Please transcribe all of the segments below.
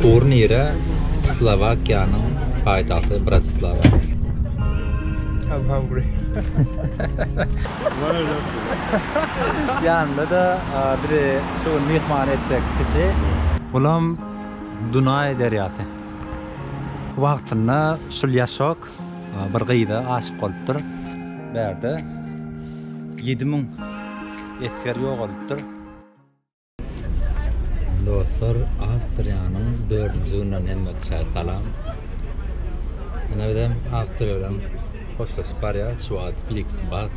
Turnire Slowakiýanyň paýtagty Bratislava. I'm hungry. Ýanynda da bizi şu gün myhman etjek kişi. Bulam Dunaý derýasy. Wagtynda şul ýaşok bir gyza aşyk bolupdyr. Bärde ýedi müň esger ýogalypdyr. Dostlar, Awstriýanyň dördünji gününden hemmetçä salam. Ine bizem Awstriýa bilen hoşlaşyp barýarys. Şu wagt Flixbus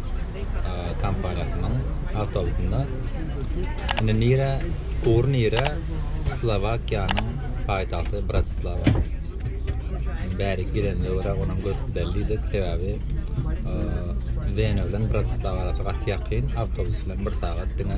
kompaniýasynyň awtobusynda. Ine nire, ugur nire? Slowakiýanyň paýtagty Bratislava. Bäri gidende görä onuň görüp bellidi. Sebäbi Wena bilen Bratislava arasy gaty ýakyn, awtobus bilen bir sagat diňe.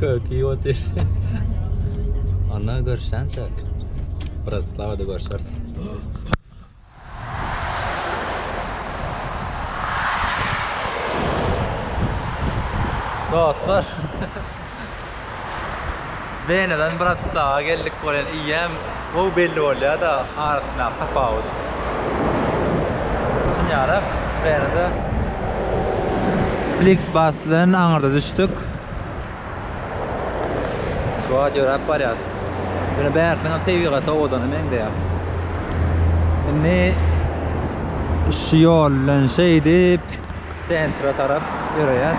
Köki otur. Ana görşen çek. Bratislava da görşer. Dostlar. Wenadan Bratislawa geldik bolýan eýýäm gowy belli bolýada arasyndaky tapawut. Düşünýäris Wenada Flixbus bilen aňyrda düşdük. Şu wagt ýöräp barýas. Ýöne bärsiniňem tebigaty owadana meňzeýär. Indi şu ýol bilen şeýdip sentra tarap öreýär.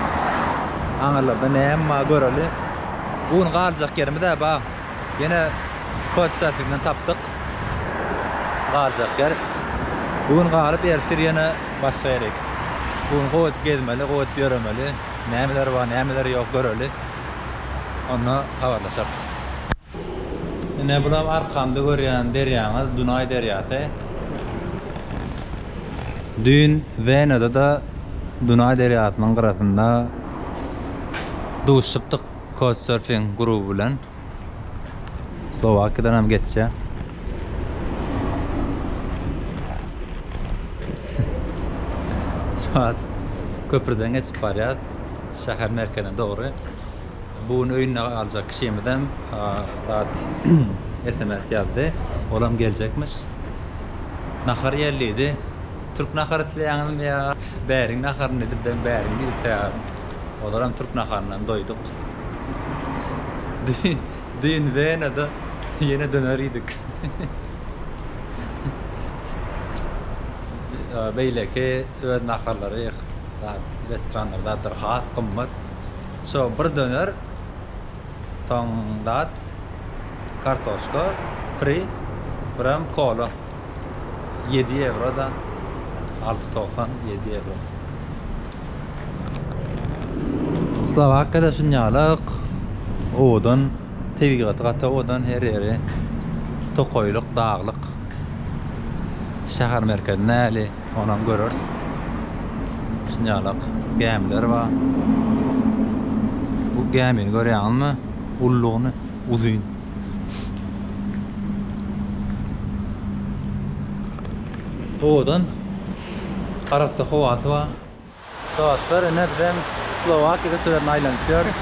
Aňyrlarda näme bar göreli. Bu gün galjak ýerimiz-ä bar. Ýene kouçserfingden tapdyk galjak ýer. Bu gün galyp ertir ýene başga ýere gidip. Bu gün gowy edip gezmeli, gowy edip ýöremeli. Nämeler bar, nämeler ýok göreli. Onda habarlaşarys. Ine bulam arkamda görýän derýaňyz Dunaý derýasy. Düýn Wenada-da Dunaý derýasynyň gyrasynda duşupdyk Couchsurfing gruby bilen. Slowakiýadan hem geçýär. Şu wagt köprüden geçip barýas şäher merkezine dogry. Bu gün öýünde galjak kişimizem zat sms ýazdy. Olam geljekmiş. Nahar iýeli diýdi. Türk nahary isleýäňizmi ýa bäriň naharyny diýdi. Ben bäriň diýip taýýarym. Ozaram türk naharyndan doýduk. Düýn Wenada ýene döner iýdik. Beýleki öz naharlary, zat, restoranlar, zatlar has gymmat. Sho bir döner soň dat kartoşka fri biram kola ýedi ewro da alty togsan ýedi ewro. Slowakiýada şunýalyk owadan tebigaty gaty owadan her ýeri tokaýlyk daglyk şäher merkezi näli. Onam göreris. Şunýalak gämiler bar. Bu gämini görýäňizmi? Ullugyny uzyn. Owadan. Arassa howasy bar. Dostlar ine bizem Slowakiýa köçelerini aýlanyp ýörüs.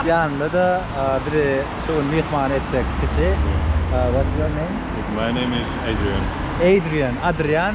Ýanymda-da bizi şu gün myhman etjek kişi. What's your name? My name is Adrian. Adrian, Adrian.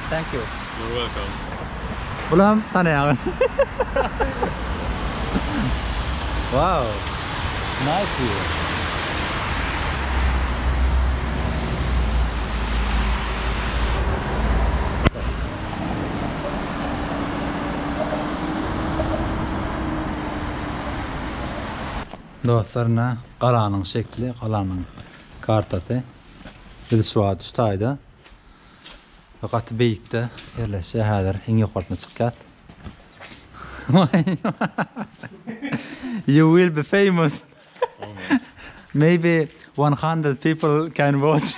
Thank you. You're welcome. Buny hem tanaýaňyz. Wow. Nice view. Dostlar, ine galanyň şekli, galanyň kartasy. Biz şu wagt şu taýda. Gaty beýikde ýerleşýär häzir iň ýokarsyna çykýas. You will be famous. Maybe one hundred people can watch.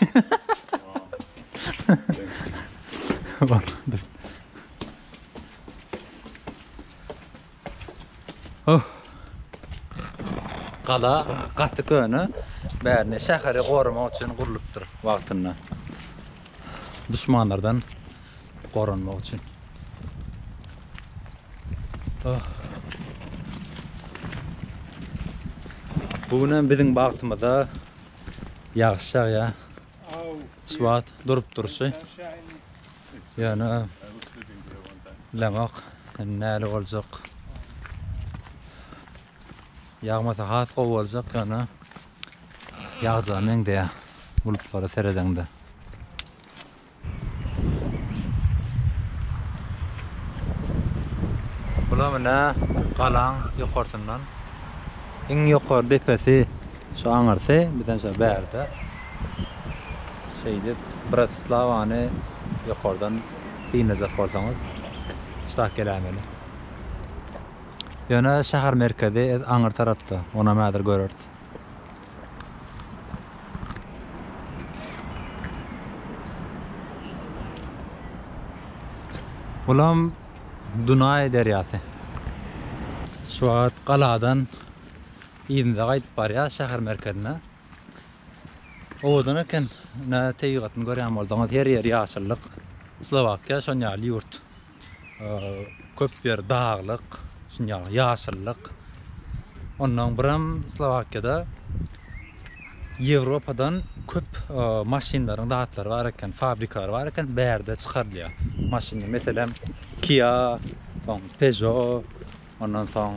Gala gaty köne. Bärine şäheri goramak üçin gurlupdyr wagtynda. Duşmanlardan goranmak üçin. Bu gün hem biziň bagtymyza ýagyş ýagýar. Şu wagt durup durşy. Ýöne bilemok näle boljak. Ýagmasa has gowy boljak ýöne ýagjagyna meňzeýär bulutlara seredeňde. Bular menä galaň ýokarsyndan. Iň ýokary depesi Şu aňyrsy bizden şo bärde şeýdip Bratislawany ýokardan synlajak bolsaňyz şitah geläýmeli. Ýöne şäher merkezi ez aňyr tarapda, onam häzir göreris. Bulam Dunaý derýasy. Şu wagt galadan Yzyna gaýdyp barýas şäher merkezine. Owadan eken. Nä tebigatyny görýän bolduňyz. Her ýeri ýaşyllyk. Slowakiýa şon ýaly ýurt. Köp ýeri daglyk, şun ýaly ýaşyllyk. Ondan biram Slowakiýada Ýewropadan köp maşynlaryň zatlary bar eken, fabrikalary bar eken, bärde çykarylýar. Maşynlar meselem Kia, soň Peugeot, Ondan soň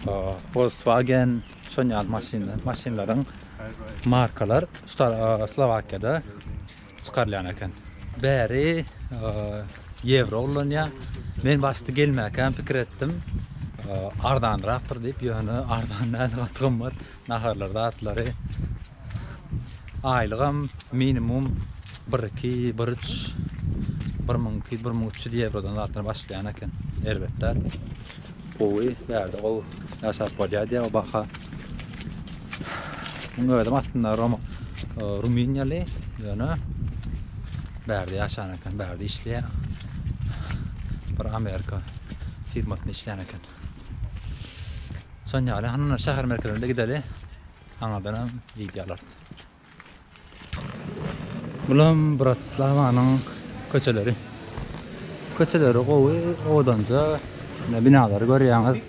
e, Volkswagen şon ýaly maşynlar, maşynlaryň markalar Star- e, Slowakiýada çykarylýan eken. Bäri e, ýewro ullanýar. Men başda gelmäkäm pikir etdim. e, Arzanrakdyr diýip, ýöne arzan däl, gaty gymmat. Naharlar zatlary Aýlygam minimum bir iki, bir üç, bir müň iki, bir müň üç ýüz ýewrodan zatdan başlaýan eken. Erbet däl. Gowy, bärde gowy ýaşap bolýar diýýär o baha. Muň özüm aslynda Roma, e, Rumyniýaly, ýöne bärde ýaşan eken, bärde işleýär. Bir Amerika firmasynda işleýän eken. Şonýaly, hanyna şäher merkezine gideli. Saňadan hem wideo alarys. Bulam Bratislawanyň köçeleri. Köçeleri gowy, odanja ne binalary görýäňiz.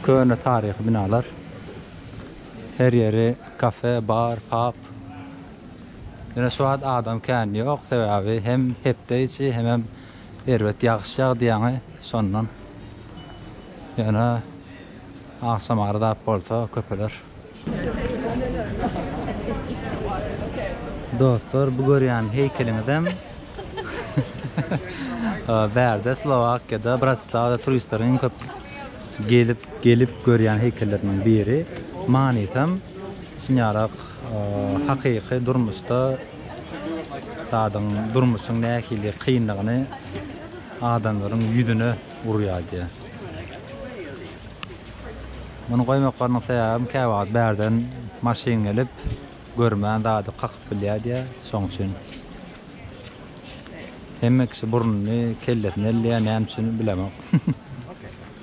Köne taryhy binalar. Her ýeri kafe, bar, pub. Ýöne şu wagt adam kän ýok, sebäbi hem hepde içi, hem hem Erbet ýagyş ýagdy ýaňy şondan. Ýöne agşam arzap bolsa köpeler. Dostlar bu görýän heýkeliňizem bärde Slowakiýada Bratislawada turistleriň iň köp gelip gelip görýän heýkelleriniň biri. Manysam şunýarak hakyky durmuşda Dadyň durmuşyň nähili kynlygyny adamlaryň ýüzüne urýar diýýär. Muny goýmaklarynyň sebäbem käwagt bärden maşyn gelip, görmän zady kakyp bilýär diýýär. Şoň üçin hemme kişi burnuny, kellesini elleýär, näme üçin bilemok.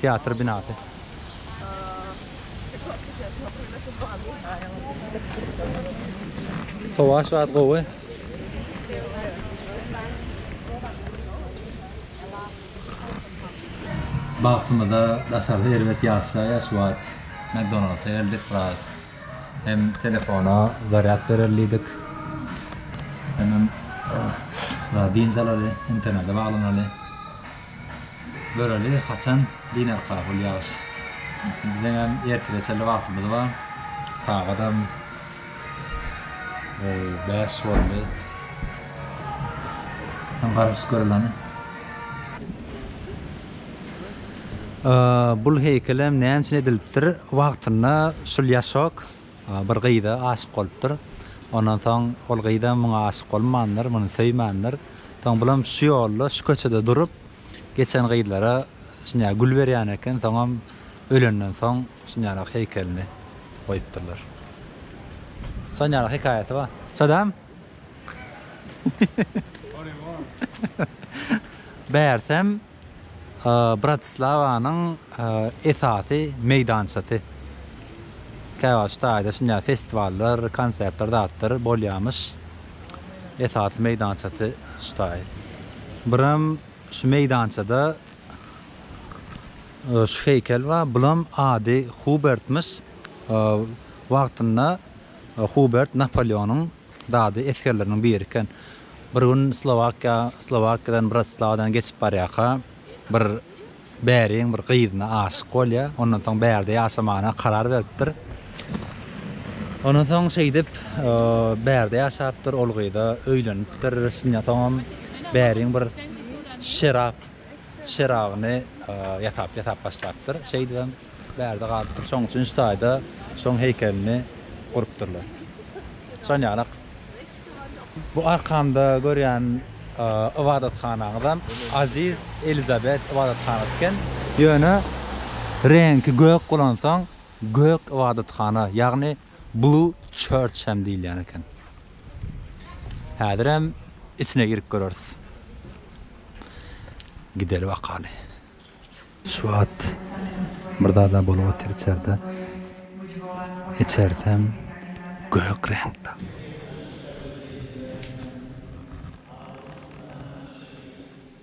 Teatr binasy. Howa şu wagt gowy. Bagtymyza daşarda erbet ýaşlar ýa şu wagt McDonald'sa geldik biraz hem telefona zarýad berer diýdik hemem biraz dynç alaly internete baglanaly. Göreli haçan dinarka bul ýagyş. Bizeňem ertire çenli wagtymyz bar. Sagadam bäş boldy. Hem garaşyp göreleni. Bul heýkelem näme üçin edilipdir wagtynda şul ýaşok. Bir gyza aşyk bolupdyr. Ondan soň ol gyzam muňa aşyk bolmandyr, muny söýmändir. Soň bulam şu ýolda, şu köçede durup, geçen gyzlara şunýa gül berýän eken. Soňam ölenden soň şunýalak heýkelini goýupdyrlar. Şonýalak hekaýasy bar. Şodam? Bärsem, Bratislawanyň esasy meýdançasy. Käwagt şu taýda şunday festiwallar, konsertler zatlar bolýarmyş. Esasy meýdançasy şu taý. Biram şu meýdançada şu heýkel bar. Bulam ady Hubertmiş. Wagtynda Hubert Napoleonyň Dady esgerleriniň biri eken. Bir gün Slowakiýa, Slowakiýadan Bratislawadan geçip barýarka, bir bäriň bir gyzyna aşyk bolýar. Ondan soň bärde ýaşamagyna karar beripdir. Ondan soň şeýdip, bärde ýaşapdyr, ol gyza öýlenipdir. Şundan soňam bäriň bir şerap. çyragyny ýasap ýasap başlapdyr. Şeýdibem bärde galypdyr. Şoň üçin şu taýda şoň heýkelini gurupdyrlar. Şon ýaly bu arkamda görýän ybadathanaňyzam Aziz Elizabet ybadathanasyy eken. Ýöne reňki gök bolansoň gök ybadathana, ýagny Blue Church hem diýilýän eken. Häzirem içine girip göreris. Gideli bakaly. Şu wagt bir zada bolup otyr içerde. Içersem gök reňkde.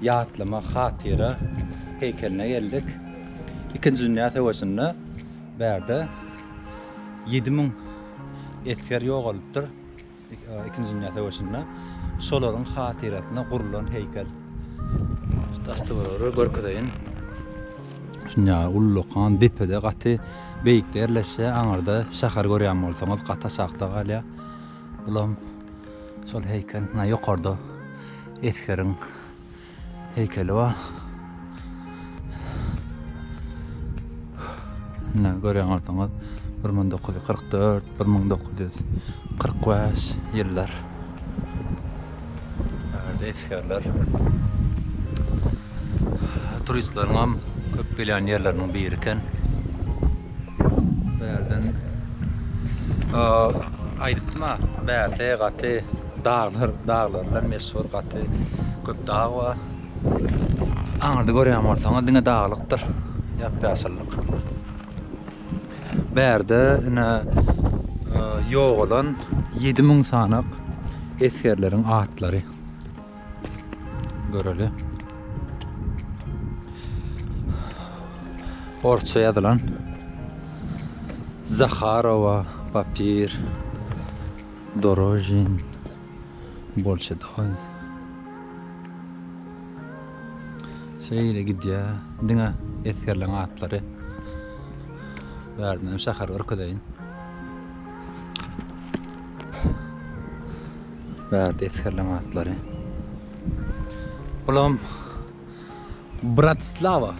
Ýatlama hatyra heýkeline geldik. Ikinji dünýä söweşinde bärde ýedi müň esger ýogalypdyr. Ikinji dünýä söweşinde şolaryň hatyrasyna gurlan heýkel. Daş-töweregleri görkezeýin. Dünýä ullakan depede gaty beýikde ýerleşýär. Aňyrda şäher görýän bolsaňyz gaty aşakda galýar. Bulam şol heýkel. Muna ýokarda esgeriň heýkeli bar. Muna görýän bolsaňyz, 1944, 1945 ýyllar. Esgerler. Turistleriň hem köp gelýän ýerleriniň biri eken. Bärden aýdypdym-a, bärde gaty daglar, daglar bilen meşhur gaty köp dag bar. Aňyrda görýän bolsaňyz diňe daglykdyr, ýap-ýaşyllyk. Bärde ine ýogalan ýedi müň sanak esgerleriň atlary. Göreli. Orsça ýazylan Zaharowa papir dorožin bolşa doz. Şeýle gidýä. Diňe esgerleň atlary. Bärden şäher görkezeýin. Bärde esgerleň atlary. Bulam Bratislava.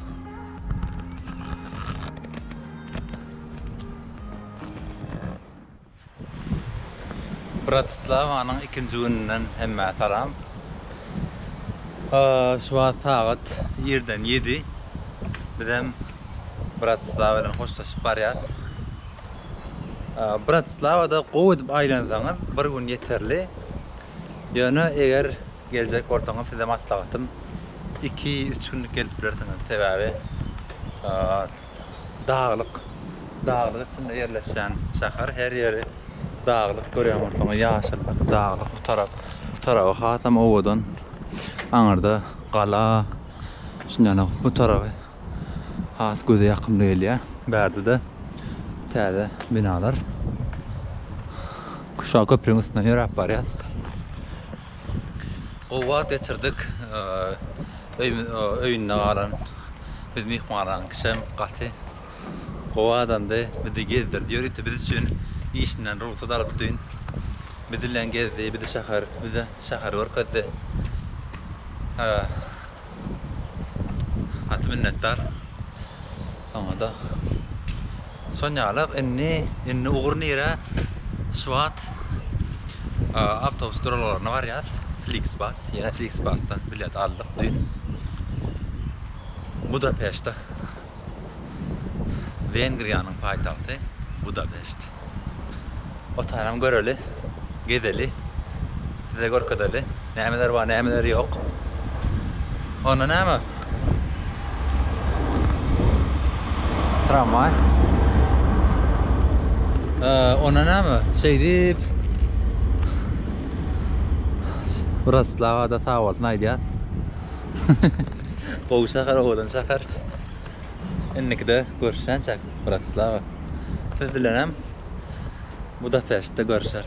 Bratislavanyň ikinji gününden hemmä salam. Şu wagt sagat irden 7. Bizem Bratislava bilen hoşlaşyp barýas. Bratislawada gowy edip aýlansaňyz bir gün ýeterli. Ýöne eger geljek bolsaňyz size maslahatym iki, üç günlük gelip bilersiňiz. Sebäbi daglyk, daglyk içinde ýerleşen şäher her ýeri daglyk görýän bolsaňyz ýaşyllyk, daglyk bu tarap, bu taraby hasam owadan. Aňyrda gala, şundan bu taraby. has göze ýakymly gelýär. Bärde-de täze binalar. Kuşa köprüniň üstünden ýöräp barýas. Gowy wagt geçirdik. Öýünde galan biz myhmananyň kişem gaty gowy adamdy. Bizi gezdirdi, ýörite biz üçin işinden rugsat alyp düýn biz bilen gezdi, bizi şäher, bize şäheri görkezdi. Gaty minnetdar. Saňada. Sonýala indi indi ugur nirä? Swat awtobus duralgaryna barýas. Flixbus, ýene Flixbusdan bilet aldyk dün. Budapeştde Wengriýanyň paýtagty Budapeşt. Otaram göreli, gezeli, size görkezeli. Nämeler bar, nämeler ýok. Onda näme? Tramwaý. Onda näme? Şeýdip Wroclawa-da sag bolsun aýdýas. Gowy şäher, owadan şäher. Indikide görüşýänçäk, Bratislava. Siz bilenem Budapeştde görüşeris.